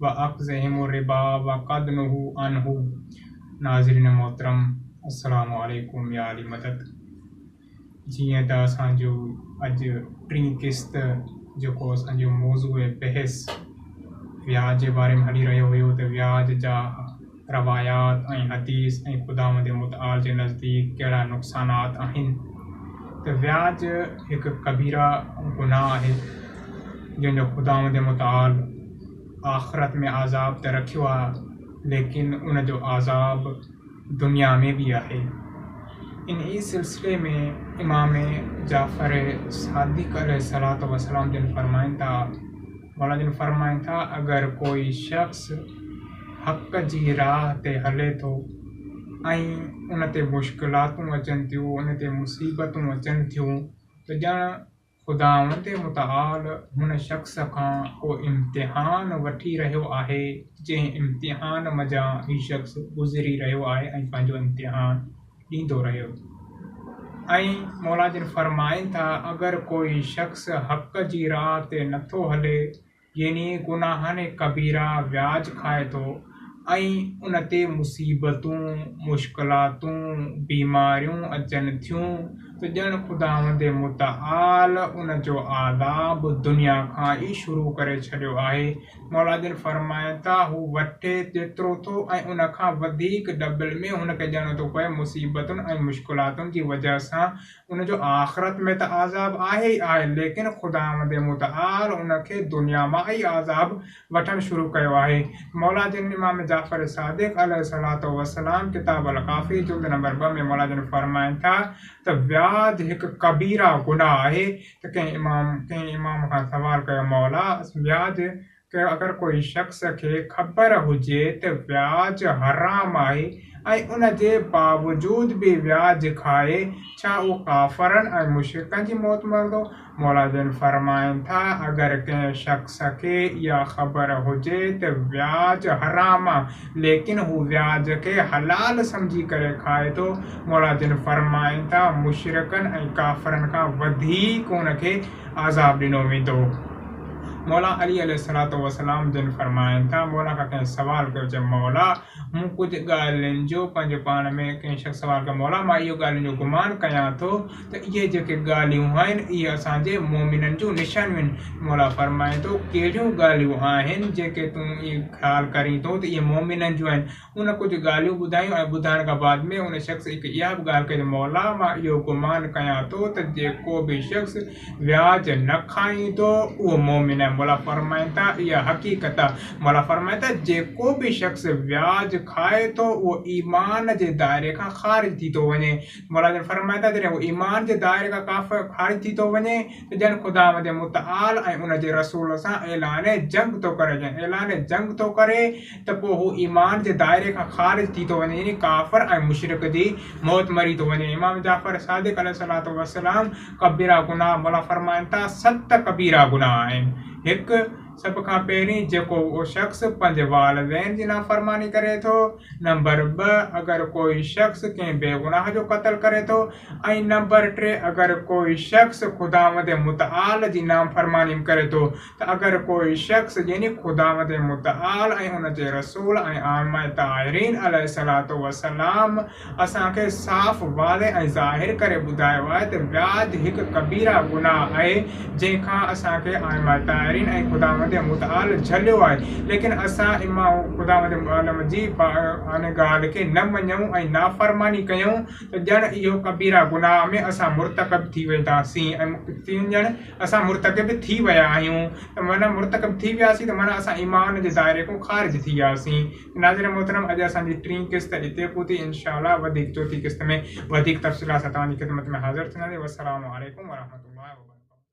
واخذهم الربا وقد نهو عنه ناظرين محترم السلام عليڪم يا علي مدد جيئن ته اسان جو اڄ ٽين قسط جيڪو اسان جو موضوع بحث وياج جي باري ۾ هلي رهيو هيو ته وياج جا روايات ۽ حديث ۽ خداوند متعال جي نزديڪ ڪهڙا نقصانات آهن ته وياج هڪ ڪبيره گناهه آهي جنهن جو خداوند متعال آخرت ۾ عذاب ته رکيو آهي ليڪن ان جو عذاب دنيا ۾ به آهي ان ئي سلسلي ۾ امام جعفر صادق عليه الصلوة والسلام جن فرمائن ٿا مولا جن فرمائن ٿا، اگر ڪوئي شخص حق جي راهه تي هلي ٿو ۽ ان تي مشڪلاتون اچن ٿيون، ان تي مصيبتون اچن ٿيون ته ڄڻ خداوند متعال هن شخص کان ڪو امتحان وٺي رهيو آهي، جنهن امتحان منجهان هي شخص گذري رهيو آهي ۽ پنهنجو امتحان. ڏيندو رهيو ۽ مولا جن فرمائن ٿا اگر ڪوئي شخص حق جي راء تي نٿو هلي يعني گناهن ڪبيرا وياج کائي ٿو ۽ ان تي مصيبتون، مشڪلاتون، بيماريون اچن ٿيون ته ڄڻ خداوند متعال ان جو عذاب دنيا کان ئي شروع ڪري ڇڏيو آهي مولا جن فرمايو ته هو وٺي جيترو ٿو ۽ ان کان وڌيڪ ڊبل ۾ هن کي ڏيڻو ٿو پوي، مصيبتن ۽ مشڪلاتن جي وجهه سان ان جو آخرت ۾ ته عذاب آهي ئي آهي ليڪن خداوند متعال ان کي دنيا مان ئي عذاب وٺڻ شروع ڪيو آهي. مولا جن امام جعفر صادق عليه الصلوة والسلام ڪتاب الڪافي جلد نمبر ٻه ۾ مولا جن فرمائن ٿا ته وياج هڪ ڪبيره گناهه آهي ته ڪنهن امام ڪنهن امام کان سوال ڪيو مولا اسان وياج ڪيو اگر ڪوئي شخص کي خبر هجي ته وياج حرام آهي ۽ ان جي باوجود به وياج کائي ڇا اهو ڪافرن ۽ مشرڪن جي موت مرندو؟ مولا جن فرمائن ٿا اگر ڪنهن شخص کي اها خبر هجي ته وياج حرام ليڪن هو وياج کي حلال سمجهي ڪري کائي ٿو، مولا جن فرمائن ٿا، مشرڪن ۽ ڪافرن کان وڌيڪ ان کي عذاب ڏنو ويندو. مولا علي عليه الصلوة والسلام جن فرمائن ٿا، مولا کان ڪنهن سوال ڪيو، چيو مولا مون ڪجهه ڳالهين جو پنهنجو پاڻ ۾ ڪنهن شخص سوال ڪيو، مولا مان اهو ڳالهين جو گمان ڪيان ٿو، ته اهي جيڪي ڳالهيون آهن، اهي اسان جي مؤمنن جون نشانيون آهن. مولا فرمائي ٿو، ڪهڙيون ڳالهيون آهن، جيڪي تون خيال ڪرين ٿو ته اهي مؤمنن جون آهن. ان ڪجهه ڳالهيون ٻڌايون ۽ ٻڌائڻ کان بعد ۾ ان شخص هڪ اها به ڳالهه ڪئي ته مولا مان اهو گمان ڪيان ٿو ته جيڪو به شخص وياج نه کائيندو، اهو مؤمن آهي. مولا فرمائن ٿا، اها حقيقت آهي. مولا فرمائي ٿا، جيڪو به شخص وياج کائي ٿو، اهو ايمان جي دائري کان خارج ٿي ٿو وڃي. مولا جن فرمائن ٿا، جڏهن هو ايمان جي دائري کان ڪافر خارج ٿي ٿو وڃي ته ڄڻ خداوند متعال ۽ ان جي رسول سان اعلان جنگ ٿو ڪري، جڏهن اعلان جنگ ٿو ڪري ته پوء هو ايمان جي دائري کان خارج ٿي ٿو وڃي يعني ڪافر ۽ مشرڪ جي موت مري ٿو وڃي. امام جعفر صادق عليه الصلوة والسلام ڪبيرا گناهه، مولا فرمائن ٿا، ست ڪبيرا گناهه آهن، هڪ، سڀ کان پهرين جيڪو شخص پنهنجي والدين جي نافرماني ڪري ٿو، نمبر ٻه، اگر ڪوئي شخص ڪنهن بيگناهه جو قتل ڪري ٿو ۽ نمبر ٽي، اگر ڪوئي شخص خداوند متعال جي نافرماني به ڪري ٿو ته اگر ڪوئي شخص يعني خداوند متعال ۽ ان جي رسول ۽ ائمه طاهرين عليه الصلوة والسلام اسان کي صاف واضح ۽ ظاهر ڪري ٻڌايو آهي ته وياج هڪ ڪبيره گناهه آهي جنهن کان اسان کي عالم الطاهرين ۽ خداوند متعال جهليو آهي، ليڪن اسان امان خداوند عالم جي ان ڳالهه کي نه مڃيون ۽ نافرماني ڪيون ته ڄڻ اهو ڪبيره گناهه ۾ اسان مرتڪب ٿي وينداسين ۽ ڄڻ اسان مرتڪب ٿي ويا آهيون ته معنيٰ مرتڪب ٿي وياسين ته معنيٰ اسان ايمان جي دائري کان خارج ٿي وياسين ته ناظرين محترم اڄ اسان جي ٽين قسط اتي پهتي انشاء الله وڌيڪ چوٿين قسط ۾ وڌيڪ تفصيلات سان توهان جي خدمت ۾ حاضر ٿينداسين والسلام عليڪم ورحمة الله وبرڪاته.